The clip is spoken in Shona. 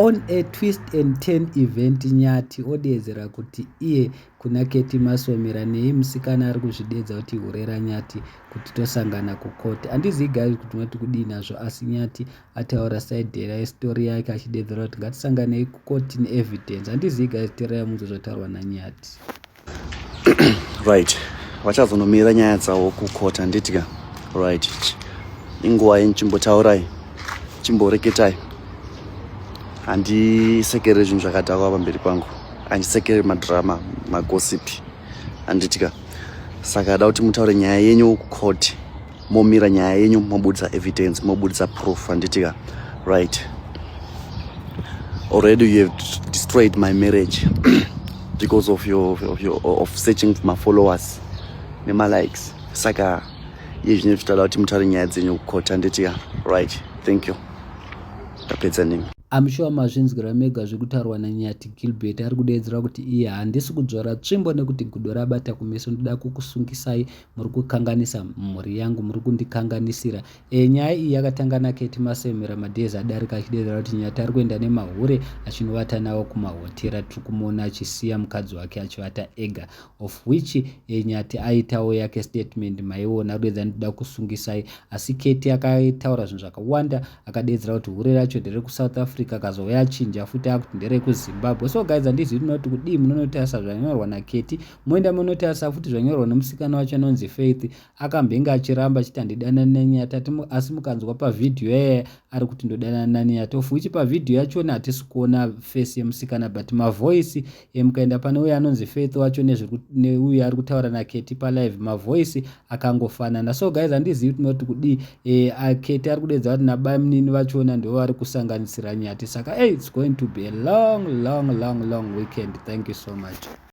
On a twist and turn event Nyathi odeedzera kuti iye kuna Ketty Masomera neyi musikana ari kuzvideedza kuti hure raNyathi kuti tosangana kucourt. Handizivi guys kuti munoti kudii nazvo asi Nyathi ataura side restory yake achideedzera kuti ngatisanganei kucourt neevidence. Handizivi guys teererai munzwe zvataurwa naNyathi. right vachazonomira nyaya dzavo kukota nditya right inguva yenchimbotaurai chimboreketai handisekere zvinhu zvakadhakwa pamberi pangu handisekere madrama magosipi handitya saka ada kuti mutaure nyaya yenyu kucourt momira nyaya yenyu mobudisa evidence mobudisa proof anditika right already you have destroyed my marriage because of your, of, your, of searching for my followers nemalikes saka iye zvine zvichitoda kuti mutare nyaya dzenyu kukoti anditika right thank you tapedza nemi amushuwa mazvinzwira mega zvekutaurwa nanyati gilbert ari kudeedzera kuti iye handisi kudzvora tsvimbo nekuti gudo rabata kumeso ndoda kukusungisai muri kukanganisa mhuri yangu muri kundikanganisira e, nyaya iyi yakatanga naketi masemera madhezi adarika achidedera kuti nyati ari kuenda nemahure achinovata nawo kumahotera tiri kumuona achisiya mukadzi wake achivata ega of which e, nyati aitawo yake statement maiona rwedza ndida kusungisai asi keti akataura zvinhu zvakawanda akadedzera kuti hure racho ndere kusouth africa akazouya achinja futi akuti ndere kuzimbabwe so guys handizivi tinoti kudii munonotarisa zvanyorwa naketi moenda monotarisa futi zvanyorwa nemusikana wacho anonzi faith akambenge achiramba achiti handidanani nanyata asi mukanzwa pavhidhiyo yaya ari kuti ndodanana nanyata of which pavhidhiyo yachona hatisi kuona face yemusikana but mavoice emukaenda pane uyo anonzi faith wacho neuyo ari kutaura naketi palive mavoice akangofanana so guys handizivi kuti noti kudii e, aketi ari kudedza kuti nabamnini vachona ndo vari kusanganisira nyati saka hey, its going to be a long long long long weekend thank you so much